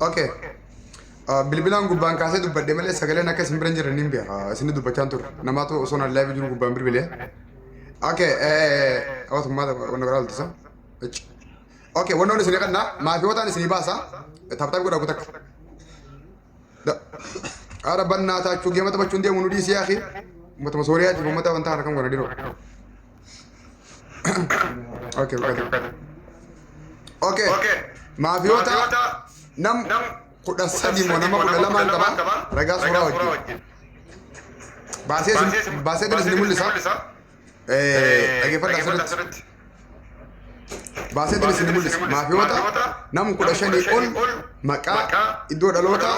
Okay. Uh, bilbilaan gubbaan kaasee dubbadhe malee sagaleen akka isin bira hin jirre niin beeka. Isin dubbachaan ture. Namaatu osoo naan laayivii jiru gubbaan bilbilee. Okay. Hawwaatu maata wanna biraa oltisa. Okay. Wannoon isin qannaa maatiiwwataan isin baasa. Taphtaa godhaa kutakka. Ara bannaa taachuu geema taphachuun deemu nu dhiisii akhi. Uummatuma Sooriyaa jiru uummata wantaa kana kan godha diroo. Okay, okay. Okay. Maafiyoota nam kudha sadii moo nama kudha lamaan qaba ragaa suuraa wajjin. Baasee isin- baasee kan isin mul'isa. Dhaggeeffadhaa sirriitti. Baaseetiin isin mul'isa. Maafiyoota nam kudha shanii ol maqaa iddoo dhaloota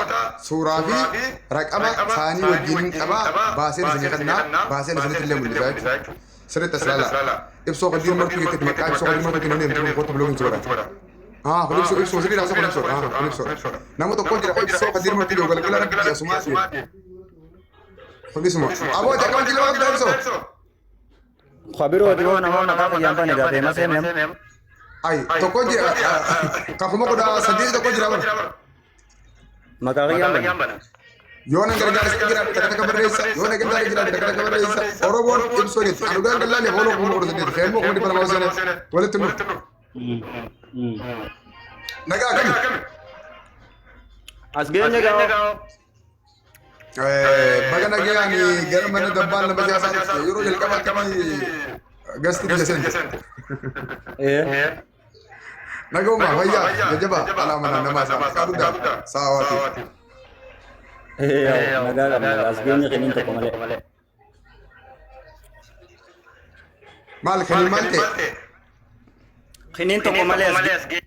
suuraa fi raqama isaanii wajjin qaba baaseen isin kennaa baaseen isinitti illee mul'isa jechuudha. Sirriitti as ilaala. Ibsoo hojii martuu keessatti maqaa ibsoo hojii martuu kennu deemtu kootu biloogiin si godha. Ah, kun ibsoo ibsoo sirrii raasa kun ibsoo. Ah, kun ibsoo. Nama tokko jira ibsoo hojii martuu yoo galgala rabbi asuma asuma. Fogisuma. Aboo jakkam jiloo akka daa'imsoo. Kabiroo dhiyoo namaa maqaa fayyaan bane gaa feemas heemem. Ayi tokko jira. Kan kuma kudha saddeet tokko jira bara. Maqaa fayyaan bane. Yoo na gargaarsa jira takka takka barreessa. Yoo na gargaarsa jira takka takka barreessa. Oromoon ibsoo jetti. Anu daan dallaa leef ooloo kuma kudha saddeet. Feemmoo kuma dhibba lamaa seenee walitti nu. Nagaa akkami? As geenye gaa. Baga nagaan gara mana dabbaan nama jaasaa dhufte yeroo jalqabaa akkamii gasti biyya seente. Nagoomaa fayyaa jajjabaa alaa mana namaa isaa maqaa guddaa saawaatii. Nagaa qabna as geenye kennin tokko malee. Maal kennin maal ta'e? Kennin tokko malee as geenye.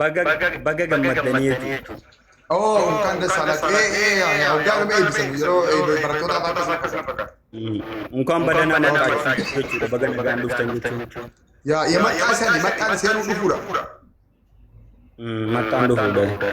Baga baga gammaddanii jechuudha. Oo kan dasaalaa ee ee hoggaa nama eebbisan yeroo eebbe barattoota afaan keessa fakkata. Unkaan baga nama waaqaa jechuudha. Baga nagaan dhuftan jechuudha. Yaa yaa maqaa isaanii maqaan seeruu dhufuudha. Maqaan dhufuudha.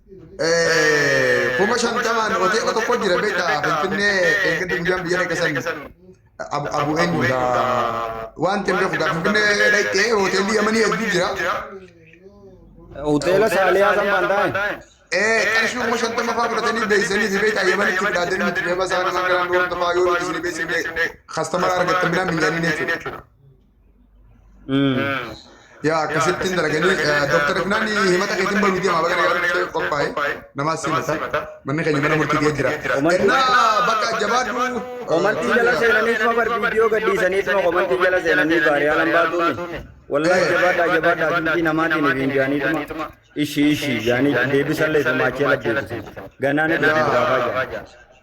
kuma shantamaan hoteela tokko jira beektaa finfinnee eeggadde guyyaan biyya dhaqasan abu eenyudha wanti hin beeku gaa finfinnee dhaqxee hoteelli yamanii hedduu jira Hoteela Saaliyaa san Baandaa'in. ee qarshii kuma shantama fa'aa fudhatanii beeksisanii fi beektaa yamanitti fudhatanii itti deema isaa nama garaan duwwaa tafaa yoo isin beeksisne kastamara argattan bilaan miidhanii jechuudha. yaa akkasittiin dalaganii dooktar Ifnaan himata keetiin bahu miti amma bakka gaariitti qophaa'e namaa simata manni keenya mana murtii kee jira. Ennaa bakka jabaadhu. Komantii jala seenanii tuma bar viidiyoo gadhiisanii tuma komantii jala seenanii baariyaa nan baatuumi. Wallahi jabaadhaa jabaadhaa fiitii namaatiin hin jaanii tuma. Ishii ishii jaanii deebisallee tumaachee labbeessu. Ganaan itti gaafaa jira.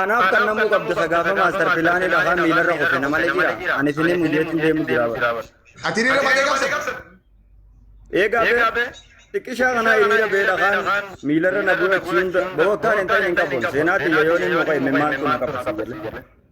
Anaaf kan namuu qabda sagaafa maastar pilaanii dhahaa miilarra kufe na malee jira. Ani finee mujeetiin deemu jira bara. Ati hiriira baatee qabsa. Eegaa bee xiqqishaa kanaa hiriira bee dhahaan miilarra na bu'e achi hunda bakka akkaan hin ta'in hin qabuun seenaa xiyya yoon hin muka imimmaan kun na qabsiisa jedhe.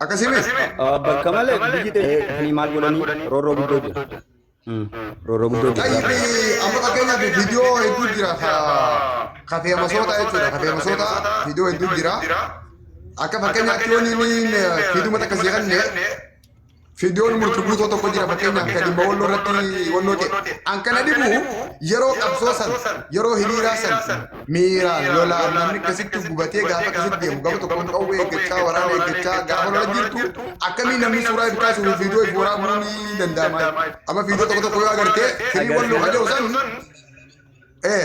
Akkasii miti. Bakka malee biyyi teessanii maal godhanii roorroo guddoo jira. Roorroo guddoo jira. Tayyibni amma fakkeenyaaf viidiyoo hedduu jira ka ka feemasoota jechuudha. Ka feemasoota viidiyoo hedduu jira. Akka fakkeenyaatti yoo inni fiiduma takka si kenne Fiidiyoon murti guutoo tokko jira fakkeenyaaf kan dhimma walloo irratti walloo ta'e. An kana dhibu yeroo qabsoo san yeroo hiriiraa san miiraan lolaan namni akkasitti gubatee gaafa akkasitti deemu gaafa tokkoon qawwee eeggachaa waraana eeggachaa gaafa lola jirtu akkamii namni suuraa itti kaasuu fi fiidiyoo itti waraabuu ni danda'ama. Amma fiidiyoo tokko tokko yoo agartee firii walloo kan jedhu san ee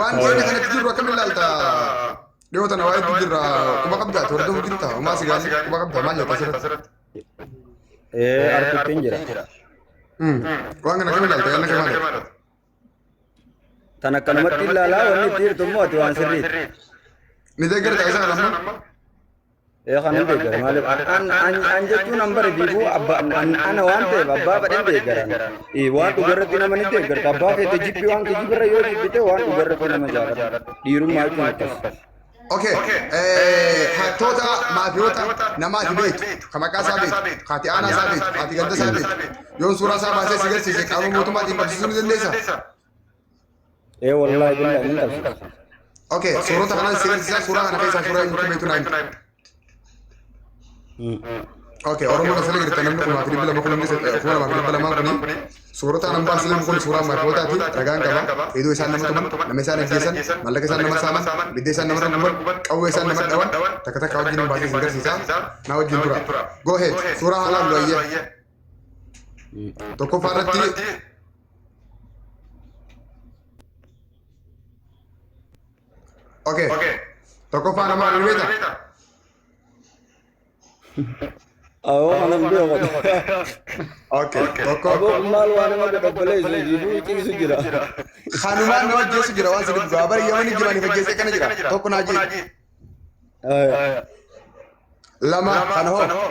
Waan dhiyeenya kanatti jirru akkamiin ilaalta? Dhiyoo tana waa'eetti jirra. Quba qabdaa? Hordofuu jirta? Homaa si gaafii quba qabdaa? Maal jetta asirratti? Ee arkuutiin jira. Waan kana akkamiin ilaalta? Yaanna kee maali? Tan akkanumatti ilaalaa wanni itti jirtu immoo ati waan sirriiti. Ni deeggarta isa kana amma? Ee kan hin deeggara maaliif an an an jechuun an bare biibuu abba an ana waan ta'eef abbaa badhin deeggaran Ee, waan dhugarratti nama ni deeggarta abbaa keetti jibbi waan kijibirra yoo jibbite waan dhugarratti nama jaalata dhiirummaa jechuun akkas Okay. Eh, hattoota maafiyoota namaati beektu, ka maqaa isaa beektu, ka ati aanaa isaa beektu, ka ati ganda isaa beektu. Yoon suuraa isaa baasee si garsiise qaama mootummaatiin qabsiisuu ni dandeessa. Ee wallaahi billaa hin qabsiisu. Okay, suurota kana si agarsiisa suuraa kana keessaa suuraa inni beektu naan. Okay, Oromoon asirra jirta namni kumaa fi dhibba lama kun hundis kuma lamaa fi dhibba lamaa kuni suurota anan baasisan kun suuraa maakootaati ragaan qaba hedduu isaan nama tuman nama isaan ajjeesan mallaqa isaan nama saaman bidda isaan nama guban qawwee isaan nama dhawan takka takka wajjin hin baasisan agarsiisa naa wajjin tura go ahead suuraa haalaan looyyee tokkoffaa irratti Okay. Okay. Tokkoffaa nama ni beekta? Awoo anan beeku. Okay. Tokko Aboo maal waan nama dadhabbalee isin jiiduu ciisu jira. kanumaan nama ajjeesu jira waan sirrii dhugaa bara yamani jiraniif ajjeesee kana jira tokko naa jee Aya. lama kana hoo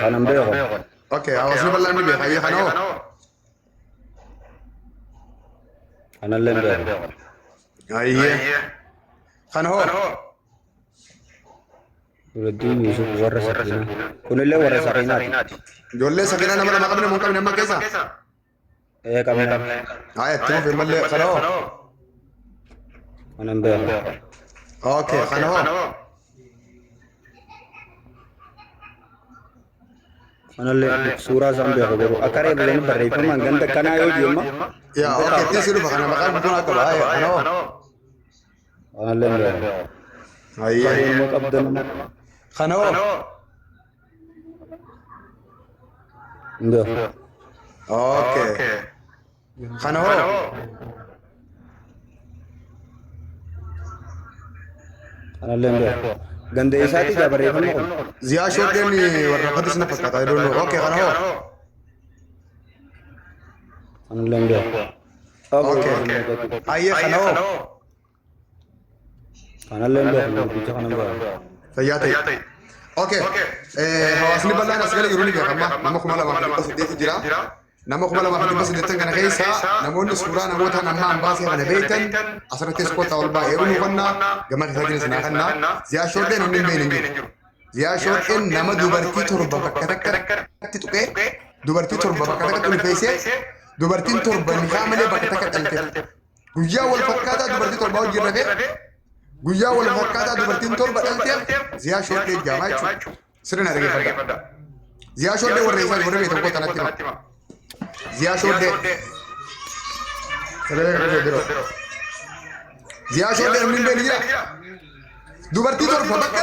Kanan beeku. Okay, hawaasni bal'aan ni beeka. Ayya kana hoo? Kanallee hin beeku. Ayya. Kana hoo? Nuraddiin Yuusuf warra sakiinaa. Kunillee warra sakiinaati. Ijoollee sakiinaa nama lama qabne moo hin qabne amma keessa? Ee qabee qabee. Haa itti fufi mallee kana hoo. Kanan beeku. Okay kana hoo. Kanallee suuraa isaan beeku garuu akka reebileen barreeffamaan ganda kanaa yoo deema. Yaa okay itti si dhufa kana maqaan guddinaa qaba haa yaa kana hoo. Kanallee beeku. Hayyee. Bareeduma qabdan. Kana hoo. Nda. Okay. Kana hoo? Anallee nda. Ganda eessaati gaa barreeffamni kun? Ziyaa shoodeen warraaqatis na fakkaata. I don't know. Okay, kana hoo? Anallee nda. Okay. Ayyee kana hoo? Kanallee hin beeku guddicha kana hin beeku. Fayyaa ta'e. Okay. Eh, hawaasni bal'aan as gala jiru ni beekama. Nama kuma lamaa fi dhibba saddeeti jira. Nama kuma lamaa fi dhibba saddeettan kana keessa namoonni suuraa namoota nama ambaa seera kana beektan asirratti iskoota ol baay'ee ol hubannaa gama keessatti isin hakanna. Ziyaa shoodheen hundi hin beekne hin jiru. Ziyaa shoodheen nama dubartii torba bakka takkatti tuqee dubartii torba bakka takkatti ulfeessee dubartiin torba nikaa malee bakka takka dhaltee Guyyaa wal fakkaataa dubartii torbaa wajjin rafee guyyaa wal fakkaataa dubartiin torba dhalteef ziyaa shoodhee jaamaa jechuudha. Sirna dhageeffadha. Ziyaa shoodhee warra isaa warra beekamu koo tanatti hima. Ziyaa shoodhee. Sagalee kan ta'e biroo. Ziyaa shoodhee namni hin beekne jira. Dubartii torba bakka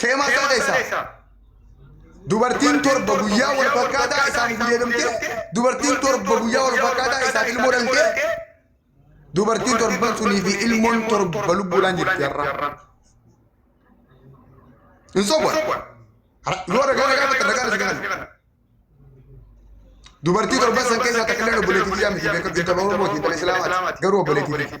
Keemaa isaa keessaa. Dubartiin torba guyyaa wal fakkaataa isaan gudeedamtee dubartiin torba guyyaa wal fakkaataa isaan ilmoo dhaltee dubartiin torban sunii fi ilmoon torba lubbuudhaan jirti har'a. Hin sobu'an. Yoo ragaa ragaa fudhatan ragaa isa galan. Dubartii torban san keessaa takka illee obboleettii jedhamti beekamtii tola Oromooti intala Islaamaati garuu obboleettii.